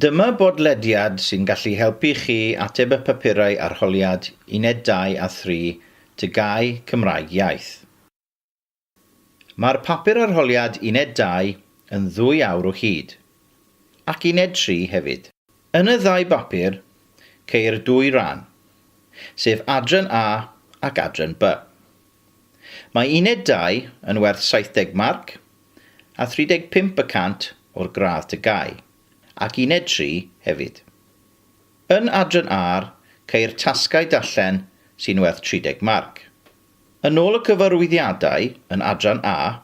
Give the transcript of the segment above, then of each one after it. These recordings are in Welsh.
Dyma bodlediad sy'n gallu helpu chi ateb y papurau arholiad Uned 2 a 3, TGAU, Cymraeg Iaith. Mae'r papur arholiad Uned 2 yn ddwy awr o hyd. Ac Uned 3 hefyd. Yn y ddau bapur, ceir dwy ran, sef Adran A ac Adran B. Mae Uned Dau yn werth 70 marc a 35 y cant o'r gradd TGAU, ac Uned Tri hefyd. Yn Adran A'r ceir tasgau darllen sy'n werth 30 marc. Yn ôl y cyfarwyddiadau yn Adran A,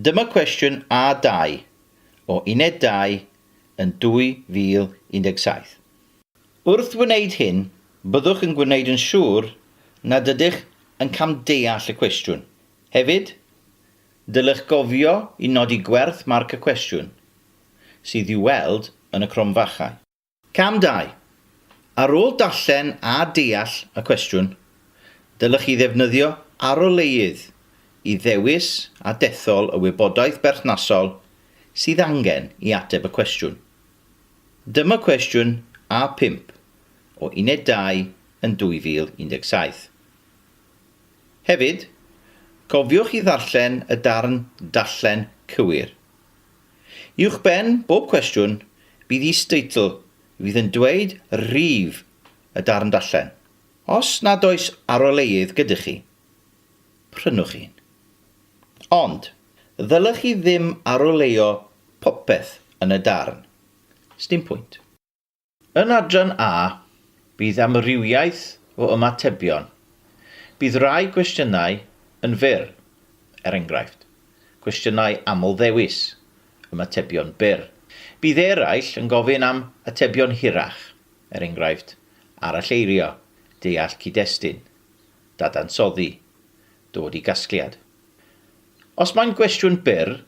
Dyma cwestiwn A2 o Uned 2 yn 2017. Wrth wneud hyn, byddwch yn gwneud yn siŵr nad ydych yn camdeall y cwestiwn. Hefyd, dylech gofio i nodi gwerth marc y cwestiwn, sydd i'w weld yn y cromfachau. Cam dau. Ar ôl darllen a deall y cwestiwn, dylech chi ddefnyddio aroleuedd i ddewis a dethol y wybodaeth berthnasol sydd angen i ateb y cwestiwn. Dyma cwestiwn A5 o Uned 2 yn 2017. Hefyd, cofiwch i ddarllen y darn Darllen Cywir. Uwchben bob cwestiwn bydd is-deitl fydd yn dweud rhif y darn darllen. Os nad oes aroleuedd gyda chi, prynwch un. Ond, ddylech chi ddim aroleuo popeth yn y darn. Sdim pwynt. Yn adran A, bydd amrywiaeth o ymatebion. Bydd rhai cwestiynau yn fyr, er enghraifft, cwestiynau aml-ddewis, ymatebion byr. Bydd eraill yn gofyn am atebion hirach, er enghraifft, aralleirio, deall cyd-destun, dadansoddi, dod i gasgliad. Os mae'n gwestiwn byr,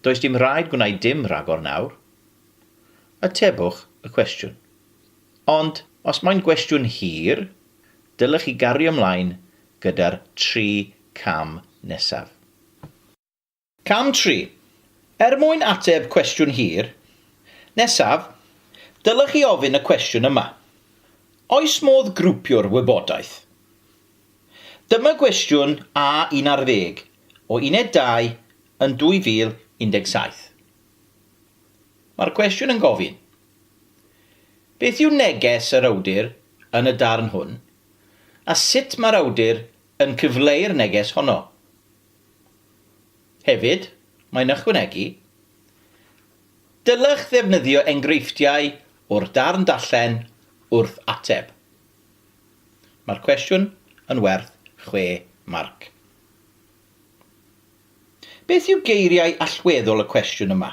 does dim rhaid gwneud dim rhagor nawr. Atebwch y cwestiwn. Ond os mae'n gwestiwn hir, dylech chi gario ymlaen gyda'r tri cam nesaf. Cam tri, Er mwyn ateb cwestiwn hir nesaf, dylech chi ofyn y cwestiwn yma, Oes modd grwpio'r wybodaeth? Dyma gwestiwn A un ar ddeg o Uned Dau yn 2017. Mae'r cwestiwn yn gofyn, Beth yw neges yr awdur yn y darn hwn, a sut mae'r awdur yn cyfleu'r neges honno? Hefyd, mae'n ychwanegu, Dylech ddefnyddio enghreifftiau o'r darn darllen wrth ateb. Mae'r cwestiwn yn werth chwe marc. Beth yw geiriau allweddol y cwestiwn yma?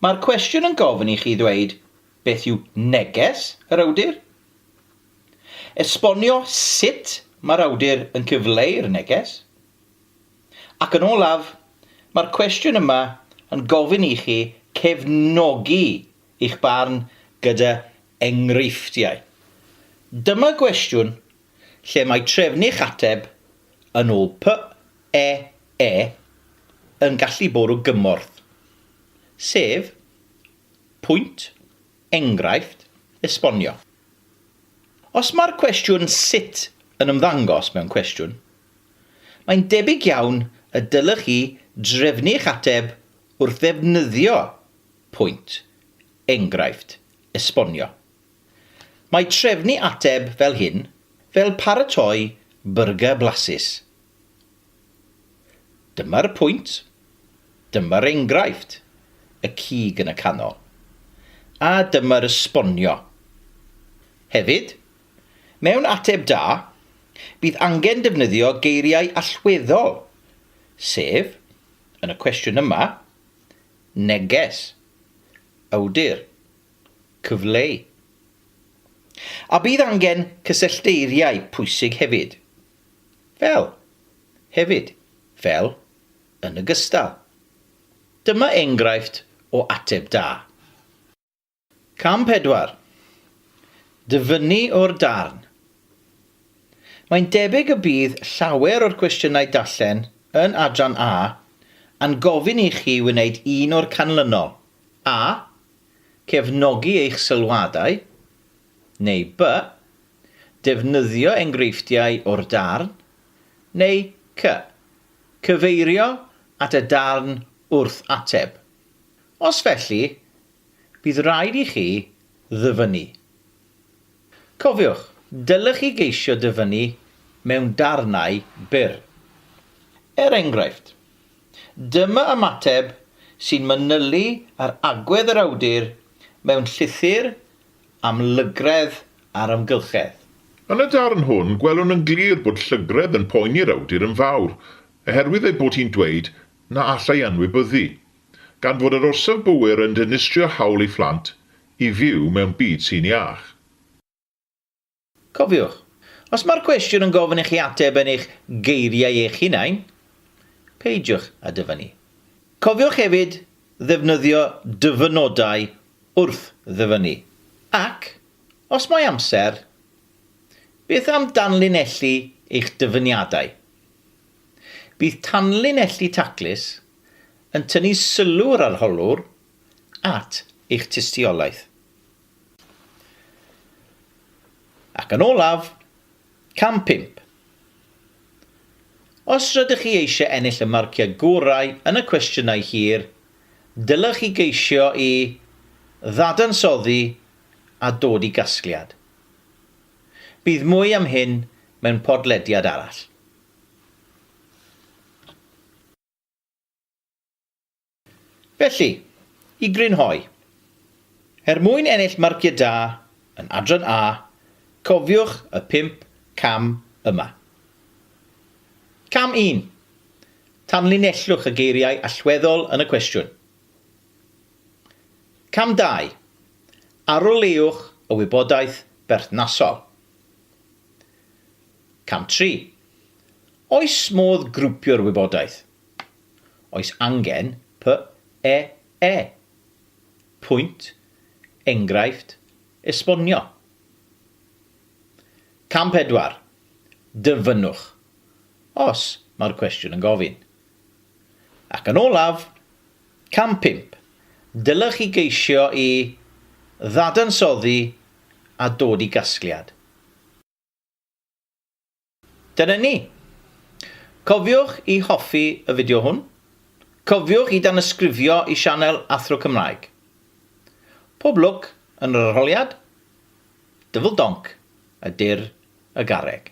Mae'r cwestiwn yn gofyn i chi ddweud beth yw neges yr awdur, esbonio sut mae'r awdur yn cyfleu'r neges, ac yn olaf, mae'r cwestiwn yma yn gofyn i chi cefnogi eich barn gyda enghreifftiau. Dyma gwestiwn lle mae trefnu'ch ateb yn ôl PEE, yn gallu bwrw gymorth, sef pwynt, enghraifft, esbonio. Os mae'r cwestiwn 'sut' yn ymddangos mewn cwestiwn, mae'n debyg iawn y dylech chi drefnu'ch ateb wrth ddefnyddio pwynt, enghraifft, esbonio. Mae trefnu ateb fel hyn fel paratoi byrgyr blasus. Dyma'r pwynt, dyma'r enghraifft, y cig yn y canol. A dyma'r esbonio. Hefyd, mewn ateb da, bydd angen defnyddio geiriau allweddol, sef, yn y cwestiwn yma, neges, awdur, cyfleu. A bydd angen cysyllteiriau pwysig hefyd. Fel. Hefyd. Fel. Yn ogystal. Dyma enghraifft o ateb da. Cam 4. Dyfynnu o'r darn. Mae'n debyg y bydd llawer o'r cwestiynau darllen yn Adran A yn gofyn i chi wneud un o'r canlynol, A. Cefnogi eich sylwadau, neu B. Defnyddio engreifftiau o'r darn, neu C. Cyfeirio at y darn wrth ateb. Os felly, bydd rhaid i chi ddyfynnu. Cofiwch, dylech chi geisio dyfynnu mewn darnau byr. Er enghraifft, dyma ymateb sy'n manylu ar agwedd yr awdur mewn llythyr am lygredd a'r amgylchedd. Yn y darn hwn, gwelwn yn glir bod llygredd yn poeni'r awdur yn fawr, oherwydd ei bod hi'n dweud na allai anwybyddu. Gan fod yr orsaf gywir yn dinistrio hawl i phlant i fyw mewn byd sy'n iach. Cofiwch, os mae'r cwestiwn yn gofyn i chi ateb yn eich geiriau eich hunain, peidiwch â dyfynnu. Cofiwch hefyd ddefnyddio dyfynodau wrth ddyfynnu. Ac, os mae amser, beth am danlinellu eich dyfyniadau? Bydd tanlinellu taclus yn tynnu sylw yr arholwr at eich tystiolaeth. Ac yn olaf, cam pump. Os rydych chi eisiau ennill y marciau gorau yn y cwestiynau hir, dylech chi geisio i ddadansoddi a dod i gasgliad. Bydd mwy am hyn mewn podlediad arall. Felly, i grynhoi, er mwyn ennill marciau da yn Adran A, cofiwch y pump cam yma. Cam un, tanlinellwch y geiriau allweddol yn y cwestiwn. Cam dau, aroleuwch y wybodaeth berthnasol. Cam tri, Oes modd grwpio'r wybodaeth? Oes angen PEE? Pwynt, enghraifft, esbonio. Cam pedwar, Dyfynnwch, os mae'r cwestiwn yn gofyn. Ac yn olaf, cam pump, Dylech chi geisio i ddadansoddi a dod i gasgliad. Dyna ni! Cofiwch i hoffi y fideo hwn. Cofiwch i danysgrifio i sianel Athro Cymraeg. Pob lwc yn yr arholiad. Dyfl donc a dur y garreg.